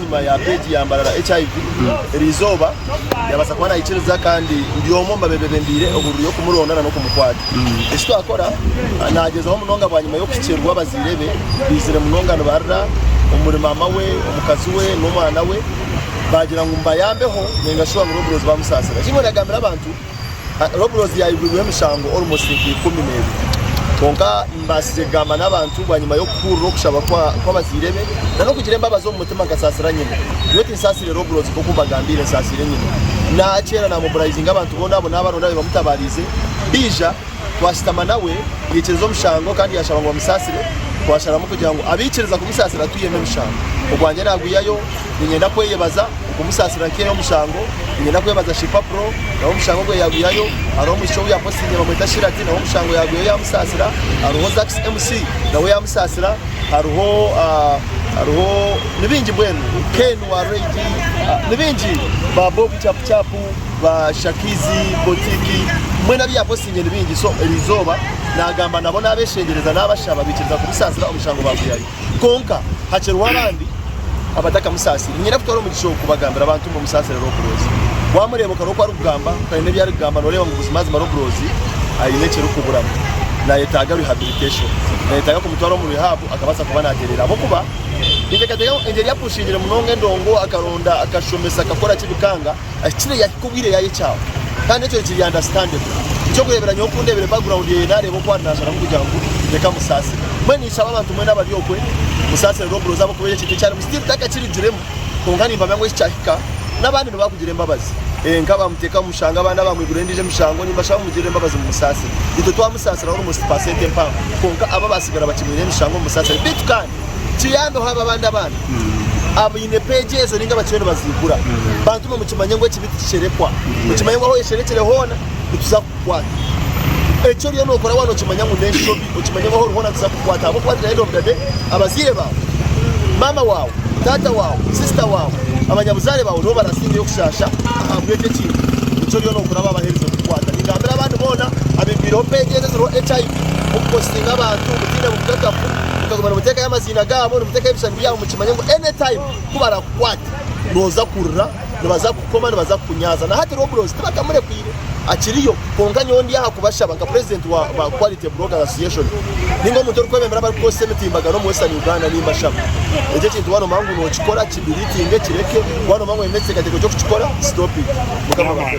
Enyima ya peegi yambarara HIV eri izooba yabaasa kuba nayikiriza kandi buri omwe omu babeebe bembiire ohururu y'okumuronda na n'okumukwata. Eki twakora, naagyezaho munonga bwanyima y'okuhikiirwa abazaire be baizire munonga nibarira omuri maama we, omukazi we, n'omwana we baagira ngu mubayambeho ninga shi owaabura oburozi baamusaasira. Eki nyowe ndagambira abantu. Robloz yaigwirweho emishango almost nka ikumi n'ebiri kwonka mbaasize kugamba n'abantu bwanyima y'okuhurira okushaba kw'abazaire be n'okugira embabazi omu mutima nkasaasira nyina nyowe tinsaasire Robloz nk'oku mbagambiire nsaasiire nyina naakyera naamobilizinga abantu boona abo naabaronda be bamutabaarize Bija twashutama nawe yaikiriza omushango kandi yaashaba ngu bamusaasire twasharamu kugira ngu abaikiriza kumusaasira twihemu emishango ogwangye naagwihayo niinyenda kweyebaza Okumusaasira nkaireho omushango, niinyenda kwebaza Shifah Pro nawe omushango gwe yaagwihayo. Hariho omwishiki ou yapositinze bamweta Shirati nawe omushango yaagwihayo yaamusaasira. Hariho Zax MC nawe yaamusaasira. Hariho hariho ni baingi mbwenu Ken wa Rage ni baingi ba Bobi Chapu Chapu ba Shakizi Botiki mbwenu abu yaapositinze ni baingi so erizooba naagamba nabo naabeshengyereza naabashaba baikiriza kumusaasira omushango baagwihayo. Kwonka hakiriho abandi abatakamusaasire. Nyine kutwara omugisha ogu kubagambira abantu ngu musaasire Robrozi. Waamureeba okaroba ku arikugamba taine ebi arikugamba nooreeba ngu buzimazima Robrozi aine ekirikuburamu. Naayetaaga rehabilitation. Naayetaaga kumutwara omu rehab akabaasa kuba naatereera ahabw'okuba ninteekateeka ngu engeri yapushingire munonga endongo akaronda akashomesa akakoraki bikanga. Ekicwire yahika obwire yayekyaho kandi ekyo kiri understandable. Ekyokureeberanyweho okundeebire background yeye naareeba oku ari naasharamu kugira ngu reka musaasire. Mbwenu ninshaba abantu mwena abari okwe musaasire Rob Rose ahabw'okuba eki ekintu eki arimu still takakirugiremu kwonka nimpamya ngu eki kyahika n'abandi nibo baakugira embabazi. Nk'abaamuteeka omu mushanga abandi abaamwigurira endiijo emishango nimbashaba mumugirire embabazi mumusaasire. Itwe twamusaasira almost percent empango kwonka abo abaatsigara bakimwireho emishango mumusaasire beitu kandi. kiyambeho abo abandi abaana abaine peegi ezo ninga abakiriyo nibaziigura. Bantumwe mukimanye ngu ekibi tikisherekwa. Mukimanye ngu ahu oyesherekire hoona nituza kukukwata. Eki oriyo nookora waaba nookimanya ngu n'enshobi, okimanye ngu ahu ori hoona nituza kukukwata ahabw'okuba at the end of the day abazaire baawe, maama waawe, taata waawe, sister waawe, abanyabuzaare baawe nibo baraasingayo kushaasha ahabw'ekyo ekintu eki oriyo nookora baaba baherize kukukwata. Ningambira abandi boona abeegwireho peegi ezo eziriho HIV, mukupositinga abantu mutaine bukakafu. mukaguma nimutekayo amaziina gaabo nimutekayo ebishushani byaabo mukimanye ngu any time kubarakukwate noza kurira nibaza kukukoma nibaza kukunyaaza na hati Roblox tibakamurekwiire akiriyo kwonka nyowe ndi aha kubashaba nka president wa ba quality bloggers association ninga omuntu orikwebembera abarikukozesa emitimbagano omu western Uganda nimbashaba ekyo ekintu waaba nomanya ngu nokikora ki deletinge kireke waaba nomanya ngu oyine ekiteekateeko ky'okukikora stop it mukama abahe.